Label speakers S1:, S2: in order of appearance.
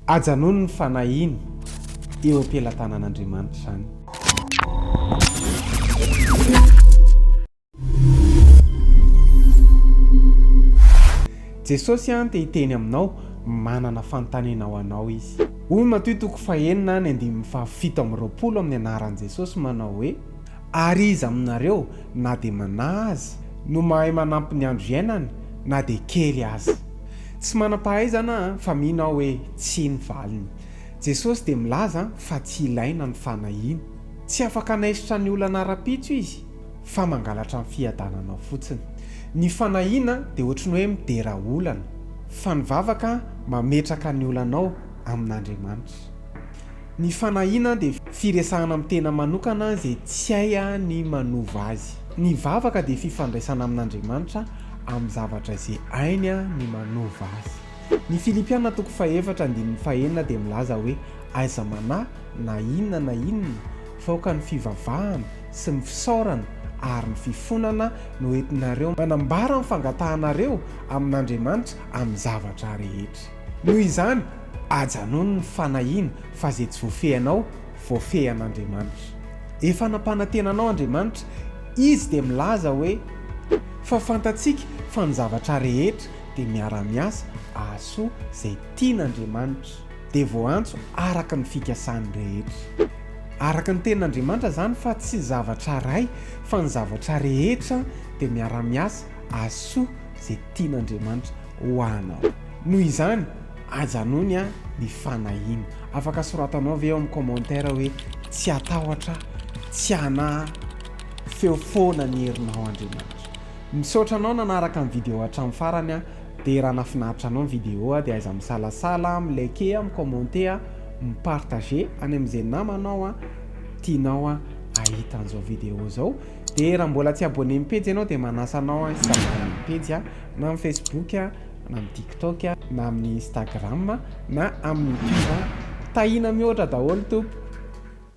S1: Ajanony ny fanahiny eo am-pelatanan'Andriamanitra izany. Jesosy an te hiteny aminao, manana fanontaniana ho anao Izy. Hoy Matoy toko fahenina any andininy fahafito amby roapolo amin'ny anaran'i Jesosy manao hoe, Ary iza aminareo, na dia manahy aza, no mahay manampy ny andro iainany, na dia kely aza? Tsy manam-pahaizana aho fa mino aho hoe tsia ny valiny. Jesosy dia milaza fa tsy ilaina ny fanahiana. Tsy afaka hanaisotra ny olana ara-pitso Izy fa mangalatra ny fiadananao fotsiny. Ny fanahiana dia ohatry ny hoe midera olana, fa ny vavaka mametraka ny olanao amin'Andriamanitra. Ny fanahiana dia firesahana amin'ny tena manokana izay tsy hay ny manova azy. Ny vavaka dia fifandraisana amin'Andriamanitra amin'ny zavatra izay hainy ny manova azy. Ny Filipiana toko fahefatra andininy fahenina dia milaza hoe aiza manahy na inona na inona fa aoka ny fivavahana sy ny fisaorana ary ny fifonana no entinareo manambara ny fangatahanareo amin'Andriamanitra amin'ny zavatra rehetra. Noho izany, ajanony ny fanahiana fa izay tsy voafehinao, voafehin'Andriamanitra. Efa nampanantena anao Andriamanitra, Izy dia milaza hoe, Fa fantatsika fa ny zavatra rehetra dia miara-miasa ahasoa izay tian'Andriamanitra, dia voaantso araka ny fikasany rehetra. Araka ny tenin'Andriamanitra izany fa tsy zavatra iray fa ny zavatra rehetra dia miara-miasa ahasoa izay tian'Andriamanitra. ho anao. Noho izany, ajanony an ny fanahiana. Afaka soratanao ve ao amin'ny commentaire hoe tsy atahotra, tsy anahy, feo foana ny herinao Andriamanitra. Misaotra anao nanaraka ny video hatramin'ny farany an, dia raha nafinaritra anao ny video dia aiza misalasala, mi like, mi commenter, mi partager any amin'izay namanao an tianao an ahita an'izao video izao. Dia raha mbola tsy abonné amin'ny pejy ianao dia manasa anao an hisabonné amin'ny pejy an, na amin'ny Facebook an, na amin'ny TikTok an, na amin'ny Instagram an, na amin'ny YouTube an. Tahiana mihoatra daholo tompoko.